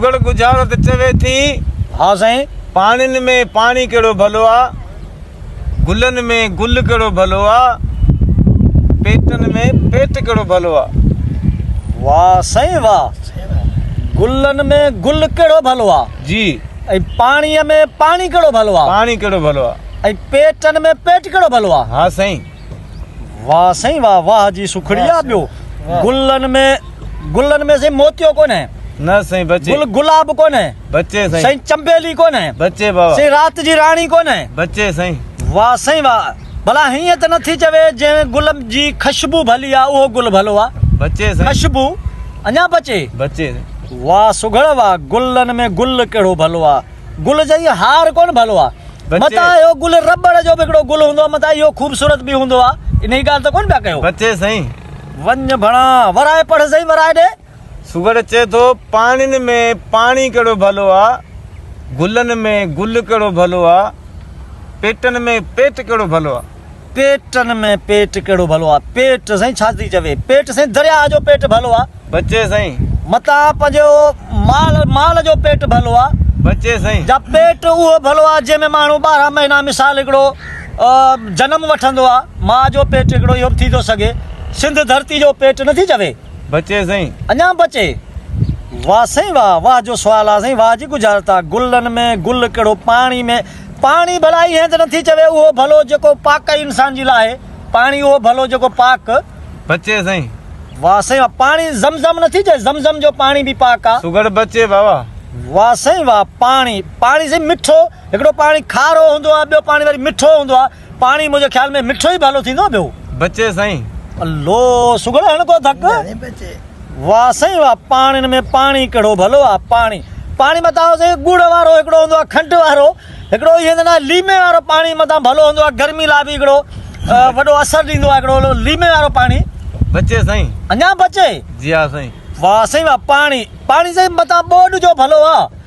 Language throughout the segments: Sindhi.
لوڳڙ ڳجهارو ته چوي ٿي. ها سائين! پاڻين ۾ پاڻي ڪهڙو ڀلو آ، گلن ۾ گل ڪهڙو ڀلو آ، پيٽن ۾ پيٽ ڪهڙو ڀلو آ. واه سائين واه! گلن ۾ گل ڪهڙو ڀلو آ. جي. ۽ پاڻيء ۾ پاڻي ڪهڙو ڀلو آ. پاڻي ڪهڙو ڀلو آ. ۽ پيٽن ۾ پيٽ ڪهڙو ڀلو آ. ها سائين! واھ سائين واھ واھ جي سکڙي آ ٻيو گلن ۾ گلن ۾ سائين موتيو ڪونهي نه سائين بچي گل گلاب ڪونهي بچي سائين سائين چنبيلي ڪونهي بچي بابا سائين رات جي راڻي ڪونهي بچي سائين واھ سائين واھ ڀلا هيئن ته نٿي چوي جنهن گل جي خشبو ڀلي آ اهو گل ڀلو آ بچي سائين خشبو اڃا بچي بچي واھ سگهڙ واھ گلن ۾ گل ڪهڙو ڀلو آ. گل جئين هار ڪونه ڀلو آ. متان اهو گل رٻڙ جو به هڪڙو گل هوندو آ متان اهو خوبصورت به هوندو آ انهي ڳالهه ته ڪونه پيا ڪيو. بچي سائين. وڃ ڀڻا ورائي پڙهه سائين ورائي ڏي. سگهڙ چئي ٿو پاڻين ۾ پاڻي ڪهڙو ڀلو آ گلن ۾ گل ڪهڙو ڀلو آ پيٽن ۾ پيٽ ڪهڙو ڀلو آ. پيٽن ۾ پيٽ ڪهڙو ڀلو آ. پيٽ سائين ڇا ٿي چوي. پيٽ سائين درياهه جو پيٽ ڀلو آ. بچي سائين. متان پنهنجو مال مال جو پيٽ ڀلو آ. بچي سائين. جا پيٽ اهو ڀلو آ جنهن ۾ ماڻهو ٻارهن مهينا مثال هڪڙو جنم وٺندو آ. ماء جو پيٽ هڪڙو اهو به ٿي ٿو سگهي. سنڌ ڌرتي جو پيٽ نه ٿي چوي. بچي سائين. اڃان بچي. واه سائين واه واه جو سوال آ سائين واه جي ڳجهارت آ گلن ۾ گل ڪهڙو پاڻي ۾. پاڻي ڀلائي هيء ته نٿي چوي اهو ڀلو جيڪو پاڪ ۽ انسان جي لاء پاڻي اهو ڀلو جيڪو پاڪ. بچي سائين. واه سائين واه پاڻي زم زم نٿي چئي زم زم جو پاڻي به پاڪ آ. سگهڙ بچي واوا. واه سائين واه پاڻي پاڻي سائين مٺو هڪڙو پاڻي کارو هوندو آ ٻيو پاڻي وري مٺو هوندو آ. پاڻي منهنجي خيال ۾ مٺو ئي ڀلو ٿيندو ٻيو. بچي سائين. الو سگهڙ هڻ ڪو ڌڪ. ڀلي بچي. واه سائين واه پاڻين ۾ پاڻي ڪهڙو ڀلو آ پاڻي پاڻي متان آهو سائين ڳوڙ وارو هڪڙو هوندو آ کنڊ وارو هڪڙو هي هوندو آ ليمي وارو پاڻي متان ڀلو هوندو آ گرمي لاء به هڪڙو وڏو اثر ڏيندو آ هڪڙو ليمي وارو پاڻي بچي سائين اڃان بچي جي ها سائين واه سائين واه پاڻي پاڻي سائين متان ٻوڏ جو ڀلو آ.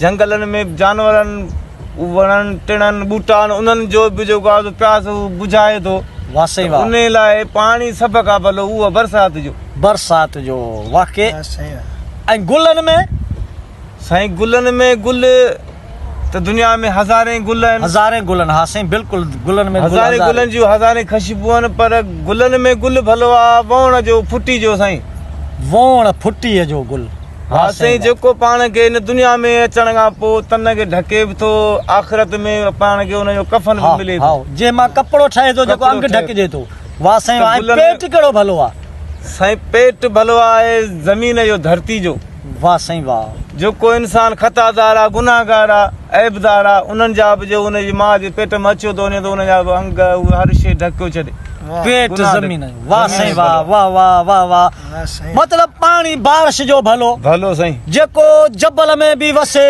جهنگلن ۾ جانورن، وڻن ٽڻن، ٻوٽان انهن جو به جيڪو آزو پياس هو بجهائي ٿو. واھ سائين واھ. انهي لاء پاڻي سڀ کان ڀلو اهو برسات جو. برسات جو واقع ۽ گلن ۾؟ سائين گلن ۾ گل ته دنيا ۾ هزارين گل آهن. هزارين گل آهن ها سائين بلڪل گلن ۾ گل هزارين. هزارين گلن جون هزارين خشبو آهن پر گلن ۾ گل ڀلو آ ووڻ جو ڦٽي جو سائين. ووڻ ڦٽي جو گل. ها سائين جيڪو پاڻ کي هن دنيا ۾ اچڻ کان پوء تن کي ڍڪي به ٿو آخرت ۾ پاڻ کي ان جو ڪفن به ملي ٿو هائو جنهن مان ڪپڙو ٺهي ٿو جيڪو انگ ڍڪجي ٿو واه سائين واه ۽ پيٽ ڪهڙو ڀلو آهي. سائين پيٽ ڀلو آهي زمين جو ڌرتي جو. واه سائين واه. جيڪو انسان خطا دار آهي گناهگار آهي عيب دار آهي انهن جا به جو ان جي ماء جي پيٽ مان اچيو ٿو وڃي ته ان جا به انگ هر شيء ڍڪيو ڇڏي پيٽ زمين جو واه سائين واه واه واه واه واه. مطلب پاڻي بارش جو ڀلو جيڪو جبل ۾ به وسي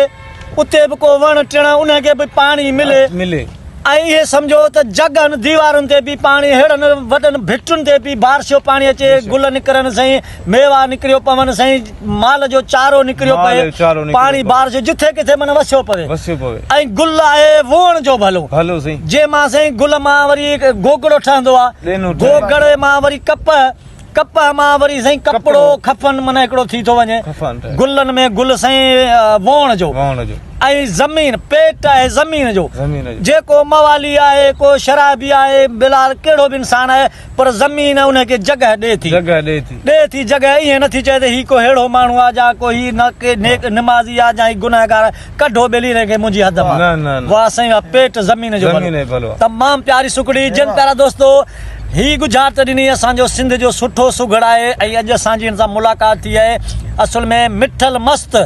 اتي به ڪو وڻ ٽڻ انهن کي به پاڻي ملي ۽ اهي سمجهو ته جڳهن ديوارن تي به پاڻي اهڙن وڏن ڀٽن تي به بارش جو پاڻي اچي گل نڪرن سائين ميوا نڪريو پون سائين مال جو چارو نڪريو پئي پاڻي بارش جو جٿي ڪٿي معنيٰ وسيو پوي ۽ گل آهي ووئڻ جو ڀلو جنهن مان سائين گل مان وري گوگڙو ٺهندو آهي گوگڙي مان وري ڪپهه ڪپهه مان وري سائين ڪپڙو، خفن، معنيٰ هڪڙو ٿي ٿو وڃي. گلن ۾ گل سائين ووڻ جو ۽ زمين، پيٽ، آهي زمين جو. جيڪو موالي آهي، ڪو شرابي آهي، بلحال ڪهڙو به انسان آهي پر زمين ان کي جڳهه ڏئي ٿي. ڏئي ٿي جڳهه، ائين نٿي چئي ته هي ڪو ههڙو ماڻهو آهي جا ڪو هي نيڪ نمازي آهي جا هي گنهگار آهي. ڪڍو ٻيلي رين کي منهنجي حد مان واه سائين واه پيٽ زمين جو ڀلو تمام پياري سڪڙي جن پيارا دوستو هي ڳجهارت ڏني اسان جو سنڌ جو سٺو سگهڙ آهي ۽ اڄ اسان جي هن سان ملاقات ٿي آهي اصل ۾ مٺل مست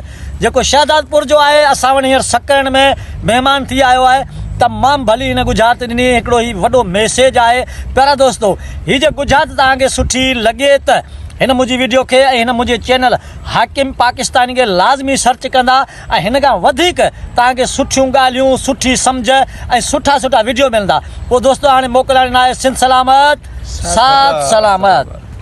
جيڪو شهدادپور جو آهي اسان وٽ هينئر سڪرن ۾ مهمان ٿي آيو آهي تمام ڀلي هن ڳجهارت ڏني هڪڙو هي وڏو ميسيج آهي پيارا دوستو هي جي ڳجهارت توهان کي سٺي لڳي ته هن منهنجي ويڊيو کي ۽ هن منهنجي چينل حاڪم پاڪستانين کي لازمي سرچ ڪندا ۽ هن کان وڌيڪ توهان کي سٺيون ڳالهيون سٺي سمجهه ۽ سٺا سٺا وڊيو ملندا پوء دوستو هاڻي موڪلاڻي ناهي سنڌ سلامت سات سلامت.